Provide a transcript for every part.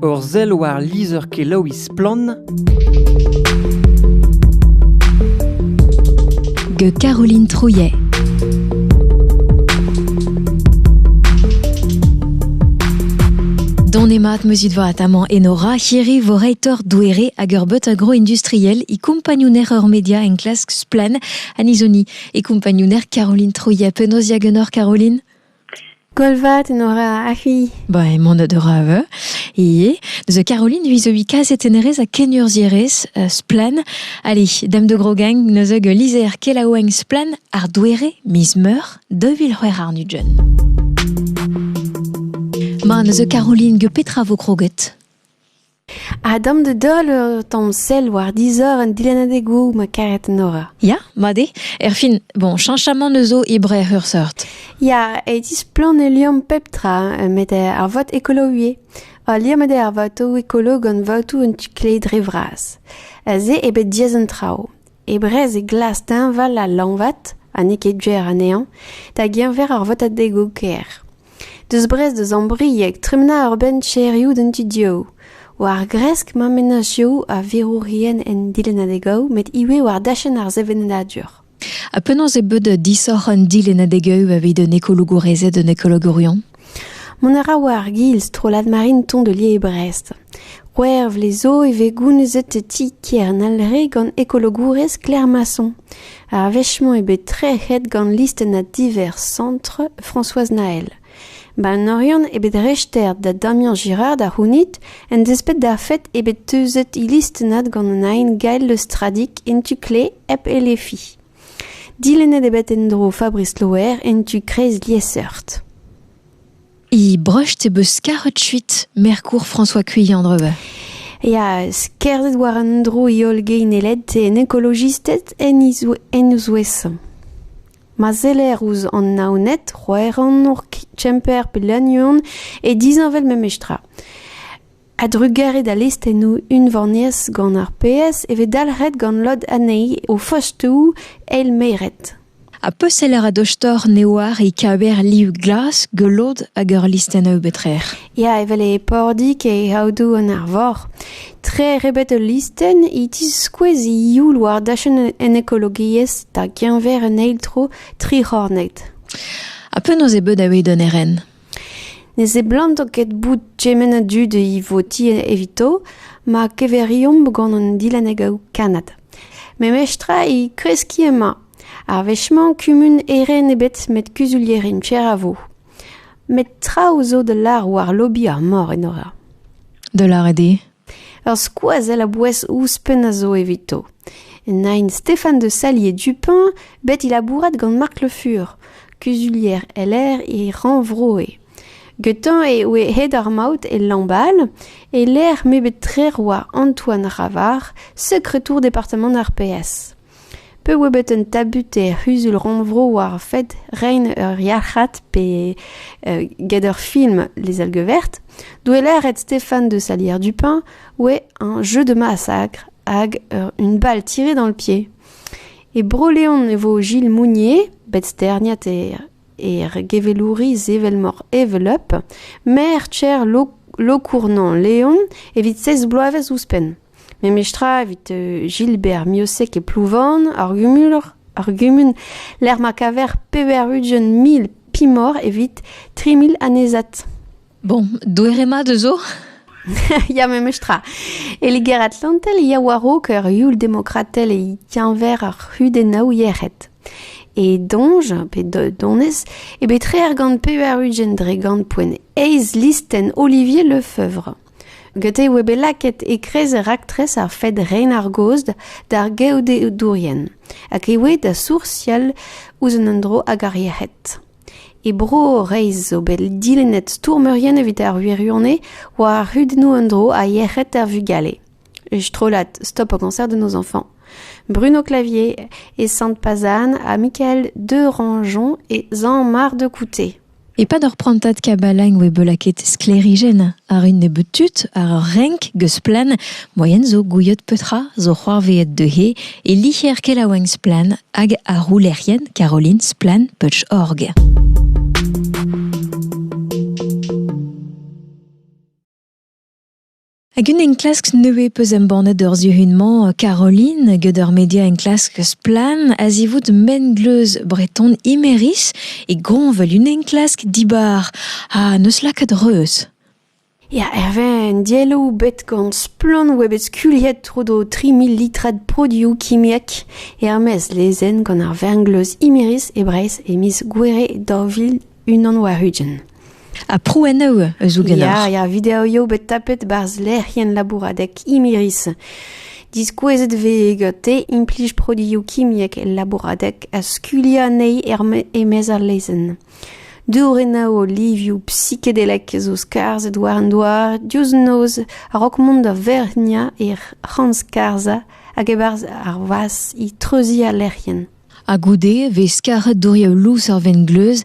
Ur sell war lizher-kelaouiñ Splann! gant Caroline Trouillet. Donemat muzidvat amant enora hirri voreitor douere hag ur but agroindustriel i kumpagnouner ur media enklask splen an izoni e kumpagnouner Caroline Trouillet. Penaos diagenor Caroline? Kolvat en ora ahi. Ba, emañ da Dorave, ivez. Neuze Caroline vis-à-vis kazetennerez ha kenurzhierez euh, Splann. Allez, dame de Grogang, neuze lizer kelaouenn Splann ar douere miz meur 2000 ar nudjen. Ma, neuze Caroline, ge petra vo kroget? Ha damp da doll ur tamm sell war dizor an dilennadegoù ma karet Nora. Ya, mat eo. Erfin, bon, cheñchamant eus zo e Breac'h ur seurt. Ya, e displann e liamm pep tra met ar vot ekolo ivez. Ul liamm eo ar votoù ekolo gant votoù un tu-kleiz dre vras. Se eo bet diaes an traoù. e brezeg glas teñval ha lañvat, ha n'eo ket ger anezhañ, da geñver ar votadegoù ker. Deus Brest da Zambrieg tremena ur benn cherioù d'an tu-dehou. War gresk ma mennozhioù a verourien en dilennadegoù met ivez war dachenn ar sevenadur. Ha penaos eo bet disoc'h an dilennadegioù evit un ekologourezed un ekologourion? Mont a ra war ar giz strollad Marinton de lies e Brest. C'hwec'h vloaz zo e vez gounezet ti Kernel re gant ekologourez Claire Masson. Ar wech-mañ eo bet trec'het gant listennad divers Centre Françoise Naël. Ba an Oriant eo bet rester da Damien Girard a c'hounit en desped d'ar fed eo bet teuzet he listennad gant an aen Gael Le Stradic en tu kle hep Elefi. Dilennet eo bet en-dro Fabrice Loher en tu kreiz liesseurt. E brecht e beus karet kuit merkour François Cuillan dreve. Ya, skerzet war an dro e holl geineled en ekolojisted en ouzouez. Ma zeller ouz an naonet, roeran hor kemper pe lagnon e dizanvel memestra. A-drugarez d'al listennoù unvaniezh gant ar PS e vez dalc'het gant lod anezhi o fostoù eilmeret. Ha peseller a dostor ne oar e kaver liv glas geulod hag ur listennoù betrec'h. Ya, evel e Pordig e Aodoù an Arvor. Tre rebet ul listenn e tiskouez e youl war dachenn en ekologiezh da geñver un eil tro tric'hornet. Ha penaos eo bet da ewid un eren? Ne seblanto ket bout kement a dud e voti evito ma keverimp gant an dilennadegoù kannad. Memestra e kreski emañ. Ar wech-mañ kumun Eren ebet met kuzulierimp cher a vo. Met traoù zo da lâr war lobi ar mor, Enora. Da lâret eo Ur skoazell a-bouez ouzhpenn a zo evito. Nain Stéphane de Sallier-Dupin, bet e labourat gant Marc Le Fur, kuzulier LR e Rannvroe. Getañ eo hed ar maout e Lambal, e-lec'h m'eo bet trec'h oa Antoine Ravard, sekretour departamant ar PS. Pe oa bet un tabut er c'huzul-rannvro war ar fed reiñ ur yalc'had pe get ur film Les Algues vertes douellet Stéphane de Salière-Dupin oa un jeu de massacre hag un bal tiré dans le pied. E Bro-Leon e vo Gilles Mounier bet sterniet er gevelouriz evel-mor Evel Up, maer-tier Lokournan Leon evit seiz bloavezh ouzhpenn. Memestra evit euh, Gilbert Miosec e Plouvorn, ar gumun, ar gumun lec'h ma kaver pevar-ugent mil pimor evit tri mil anezat. Bon, doerema dezo Ya memestra. E Liger-Atlantel ya warok ur youl demokratel e tienver ar hudenaou yec'hed. E donj, pe donez, e bet reer gant pevar ugent dre gant poen eiz listen Olivier Lefeuvre. Gete e oa bet lakaet e-kreiz raktres ar fed reiñ ar gaoz d'ar geodedourien hag e oa da soursial ouzh an endro hag ar yec'hed. E Bro Vreizh zo bet dilennet stourmerien evit ar wirionez war ar c'hudennoù en-dro ha yec'hed ar vugale. E strollad Stop au cancer de nos enfants. Bruno Clavier et Sainte-Pazanne ha Michael Derangeon et Jean-Marc de Couté. E-pad ur prantad kabalañ e oe bet lakaet sklêrijenn àr un nebeud tud àr ur renk geuz-splann moaien zo gouiet petra zo c'hoarvezet dezhe e licher kelaouenn Splann hag ar roulerien Caroline Splann-Putsch-Org. Hag un enklask nevez peus embannet ur zihun-mañ, Caroline, get ur media enklask splann a-zivout mengleuz breton Imeris e goñvel un enklask dibar ha n'eus lakaat reuz. Ya, Hervé, un dielloù bet gant splann oa bet skuliet tro d'o 3000 litrad produioù kimiek er-maez lezenn gant ar vengleuz Imeris e Breizh e miz Gouere daou vil unan war ugent. Ha prouennoù eus ougenoc'h? Ya, ya, videoioù bet tapet barzh lec'hienn labouradek Imiris. Diskouezet vez gante implij produioù kimiek el labouradek ha skuliañ anezhi e-maez ar lezenn. Dourennoù livioù psikedelek zo skarzhet war an douar diouzh noz a-raok mont da verniañ e c'han-skarzhañ hag e-barzh ar vas e treuziñ al lec'hienn. Ha goude e vez karet dourioù lous ar vengleuz,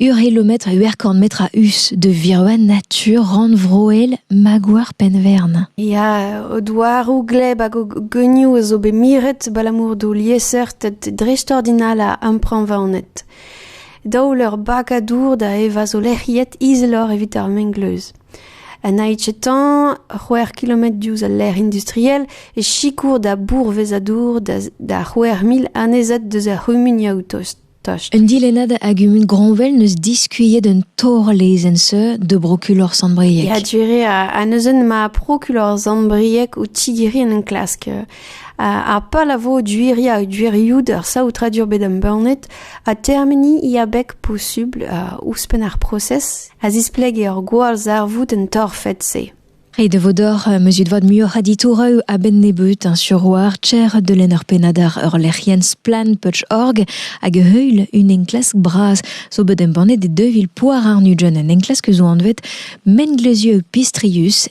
ur helometr, ur korn metr a-us de virua natur rannvroel Magouar Penvern. Ya, o douaroù gleb hag o geunioù a zo bet miret abalamour d'o liesseurted dreistordinal a ampreñvaonet. Daol ur bagadour da evañ zo lec'hiet izeloc'h evit ar mengleuz. Un haitchetan, c'hwec'h kilometr diouzh al lec'h industriel, e sikour da bourvezadour da c'hwec'h mil annezad deus ar c'humunioù tost. Un dilennad a gumun Groñvel n'eus diskuilhet un torr-lezenn seur de brokulor Sant-Brieg. Ya, dire a neuzen ma prokulor Sant-Brieg o tigeri en enklask. Ha pal a vo duiri hag duirioù d'ar saotradur bet embannet ha termeni i abeg posubl ouzhpenn ar prosez. a zisplege ur gwallzarvoud en torfed-se. Ret e vo deoc'h meuzut vat muioc'h a ditoureu a-benn nebeut sur war cher delenn ur pennad ar ur-lec'hienn splanputch.org hag heul un enklask bras zo bet embannet e 2000 poar ar nugent, un enklask zo anvet Menglezieu pistrius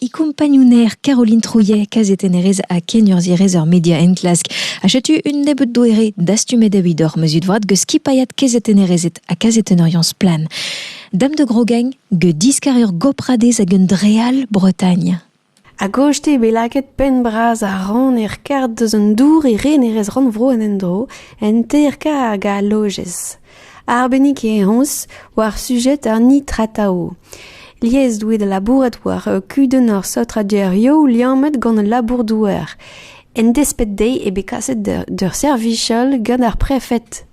e kompagnouner Caroline Trouillet, kazetennerez ha kenurzhierez ur media enklask. Ha setu un nebeud doere dastumet evit hor meuzut vat geus skipailhat kazetennerezed ha kazetennerien splan. Dame de Grogeng, ge diskar ur gopradez hag un dreal Bretagne. A goste bet lakaet penn bras a ran er kart deus an dour e renerez rannvro en endro en ter kar hag a lojez. Arbennik eo honnezh war sujed an nitratao. Lies doe da labourat war kudenn ar saotradurioù liammet gant al labour-douar. En desped dezhe eo bet kaset d'ur servij-all gant ar prefed.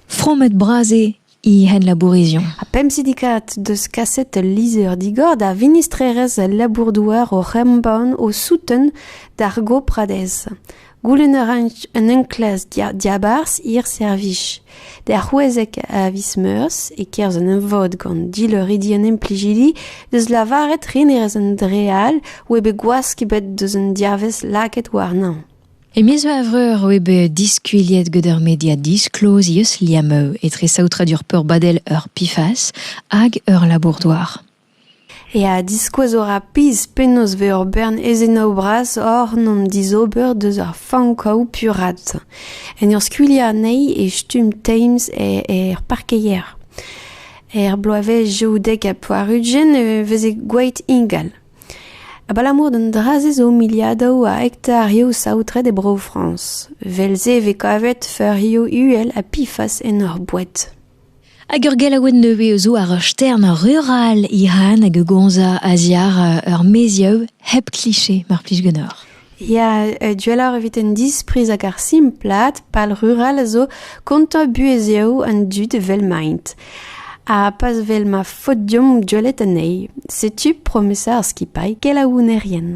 Fromet-bras eo he henlabourizion. Ha pemp sidikad deus kaset ul lizher digor da vinistrerezh al labour-douar oc'h embann o souten d'ar gopradez. Goulenn a ra un enklask diabarzh hir servij. D'ar c'houezek a viz Meurzh, e-kerzh un emvod gant dileuridi an implijidi, deus lavaret renerez an dre all oa bet gwask ebet deus un diavez lakaet warnañ. E miz Evreur oa bet diskuilhet gant ur media disklozius Liameu etre saotradur peurbadel ur PFAS hag ur labour-douar. Ya, diskouez a ra pizh penaos vez ur bern ezenaoù bras oc'h 'n em dizober deus ar fankaoù puraat. En ur skuilhañ anezhi e stumm Thames er parkeier. Er bloavezh daou dek ha pevar-ugent e veze gwaet ingal. Abalamour d'an dra-se zo miliadoù a hektarioù saotret e Bro-Frañs. Evel-se e vez kavet feurioù uhel ha pifas en hor boued. Hag ur gelaouenn nevez zo àr ur stern rural Iran hag a gomzañ a-ziàr ur maezioù hep kliché mar plij ganeoc'h. Ya, gwelloc'h evit an dispriz hag ar simplad pal rural a zo kontañ buhezioù an dud evel maint. Ha pas vel ma faot deomp gwelet anezhi. Setu promesa ar skipailh kelaounerien.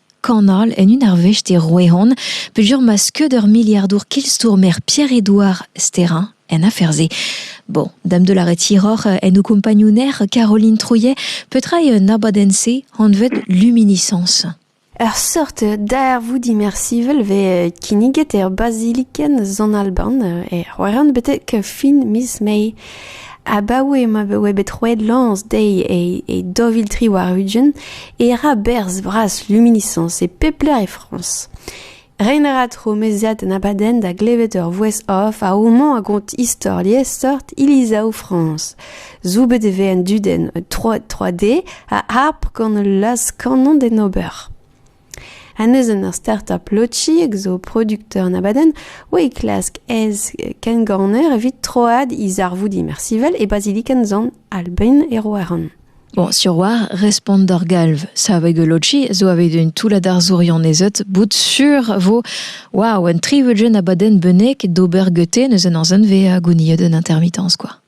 Kanol en un arvest e Roehon peogwir ma skeud ur miliardour kilstourmer Pierre-Édouard Sterrin en afer-se. Bon, dame de la retiroc'h en o compagnouner Caroline Trouillet, petra eo un abadenn-se anvet Luminiscence Ur seurt darvou dimersivel vez kinniget er bazilikenn Zon-Alban, e Roerant betek fin miz Mae. Abaoe ma voe bet roet lañs dezhi e daou vil tri warn-ugent e ra berzh bras luminisañs e pep lec'h e Frañs. Reiñ a ra tro meziat an abadenn da glevet ur voice-off a homañ a gont istor liesseurt ilizav Frañs. Zoubet e vez an dudenn 3D a harp gant ul laz-kanon d'en ober. Un eus an startup Logic zo producteur an abadenn oa e klask ez kengorner evit troad he zarvoud imersivel e bazilikenn zan Albain e Roeran. Bon, sur war, respont d'ur galv. Saveg Logi zo aveit un toullad arzourion ezet bout sur vo war un trivelgen abadenn benek d'ober gete neus an arzon ve a gouniet un intermittence quoi.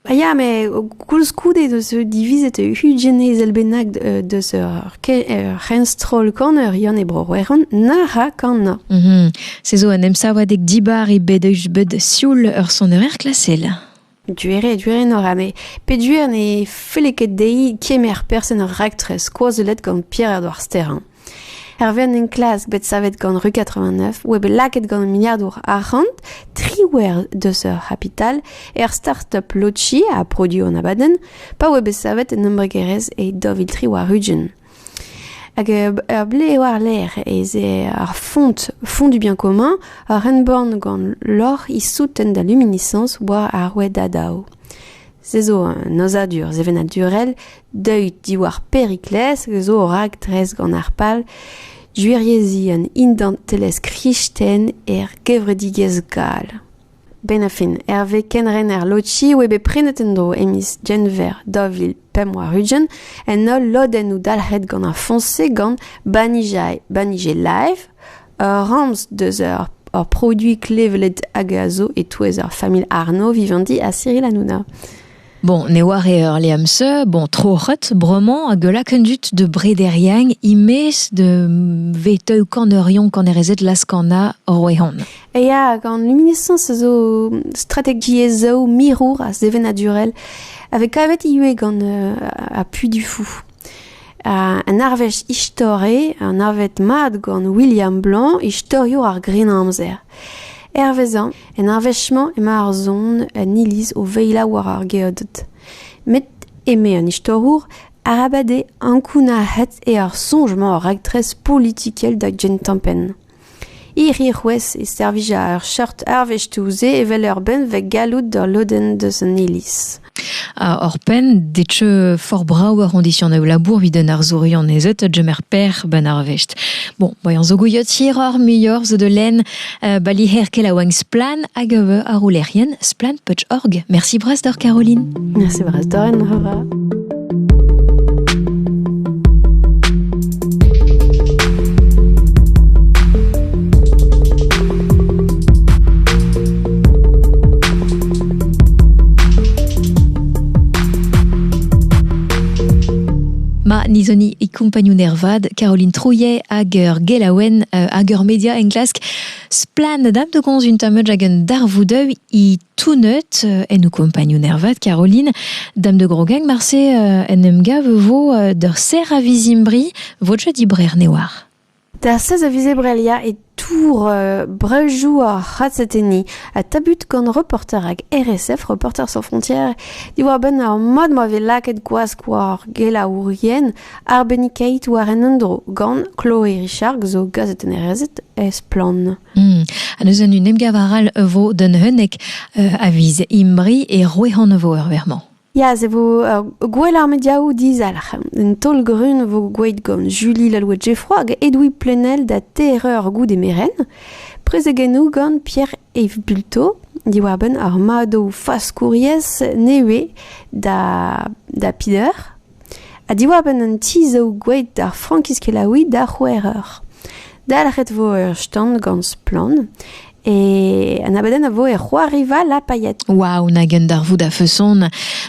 Ah ya, met koulskoude deus eo divizet ugent ezel bennak deus ur c'henstroll kaner-yann e Bro-C'hwec'hon nac'h ha kanañ. Se zo un emsavadeg dibar eo bet bet sioul ur sonerezh klasel. Gwir eo, gwir eo, Nora, met peogwir ne felle ket dezhi kemer person ur raktres skoazellet gant Pierre-Edouard Sterrain. Hervez an enklask bet savet gant Ru 89 oa bet lakaet gant miliadour arc'hant triwec'h deus ur c'hapital er startup Lochi ha produoù an abadenn pa oa bet savet en embregerezh e Deauvil-Tri war Rugen. Hag ur ble eo war-lerc'h ez eo ar font Font du bien commun ur renborn gant lorc'h issouten da luminiscence war ar rouedadao. Se zo un aozadur sevenadurel deuet diwar Perikles zo o raktres gant ar pal gwirieziñ an identelezh kristen er gevredigezh gall. Benn a fin, Herve Kenrener Lotchi oa bet prenet en-dro e miz Genver 2000-2001 en holl lodennoù dalc'het gant ar foñs-se gant Banijay, Banijay Live, Ur ramz deus ur produiñ klevet hag a zo e-touez ur familh Arnaud vivendi ha Cyril Hanouna. Bon, ne oar eur leam se, bon, troc'het, bremañ, hag laken dut de brederien, imez de veteu kanerion kanerezet laskana roehan. E ya, gant luminescence a zo strategiezhou mirour ha sevenadurel, avec kavet ivez gant euh, appui du fou. Un arvest istorel anavet mat gant William Blanc, istoriour ar Grennamzer. Hervezañ, en arvest-mañ emañ ar son en iliz o veila war ar geoded. Met, eme an istorour, arabat eo ankounac'het eo ar soñj-mañ ar raktres politikel da gentañ penn. Hiriv-c'hwezh e servija ur seurt arvestoù-se evel ur benveg galloud d'ul lodenn deus an iliz. Oc'hpenn, detu for brav ar c'hondision labour evit an arzourion ez eus gemer per ban arvest. Bon, bayan zo gouiot hiroc'h muioc'h zo de len bali her kel a oan splan hag eve ar roulerien splan.org. Merci bras d'or Caroline. Merci bras d'or en hora. nizoni e kompagnun ervad Caroline Trouillet hag ur gelaouenn euh, hag ur media englask splan dam de gonz un tameud hag un darvoudeu e tout neut en ho compagnon ervat, Caroline. Dame de Grogag, marse en em gav vo d'ur serr a vizimbri vo di brer newar. D'ar sez a vizebrelia e tour euh, brejou ar c'hatseteni ha tabut gant reporter hag RSF, Reporters sans frontières, diwar benn ar mad ma vez lakaet gwask war gelaourien ar bennikeit war en endro gant Chloe Richard zo gazetennerezet e Splann. Hmm. Ha neuze un emgav arall e vo d'un unnek euh, a viz Imbri et Roehan e vo ur vermañ. Ya, e vo gwell ar mediaoù dizalc'h. Un taol grun vo gwelet gant Julie Lalouët-Geffroy hag Edoui Plenel da TRE goude meren. Prezegennoù gant Pierre-Yves Bulto diwar-benn ar madoù faskouriezh nevez da, da Pider. Ha diwar-benn an ti zo gwelet ar frankiz kelaouiñ d'ar c'houereur. Dalc'het vo ur stand gant Splann! E an abadenn a vo er c'hoariva La Paillette. Waw, nag un darvoud a-feson.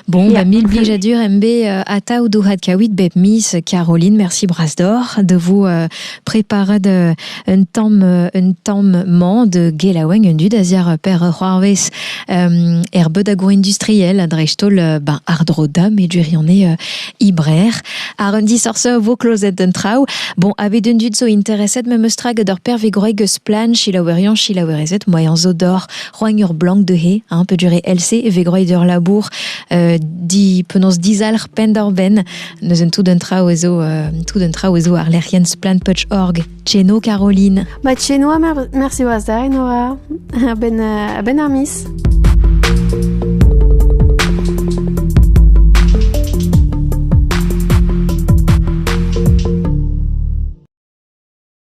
Bon, Yeah. ba mil blijadur em be euh, atav dourad kaouit bep miz. Caroline, merci bras d'oc'h de vous euh, preparat euh, un tam euh, un tam man de gelaoueng un dud aziar per c'hoarvez euh, er bedago industriel a dreistol ben ardroda me durione ibrer ar un disorse vo closed d'un traou bon ave d'un dud zo interesset me mestrag d'ur pervegoreg eus plan chilaouerian chilaouerezet moyen zo d'or roang ur blanc de he hein, peut durer LC e vegroy d'ur labour di penaos dizalc'h pen d'or ben Neuzen tout un traoù ez zo euh, tout un traoù ez zo ar lec'hienn splanputch.org. Tcheno Caroline. Ba tcheno ha mersi oaz da Nora. A-benn euh, a-benn ar mis.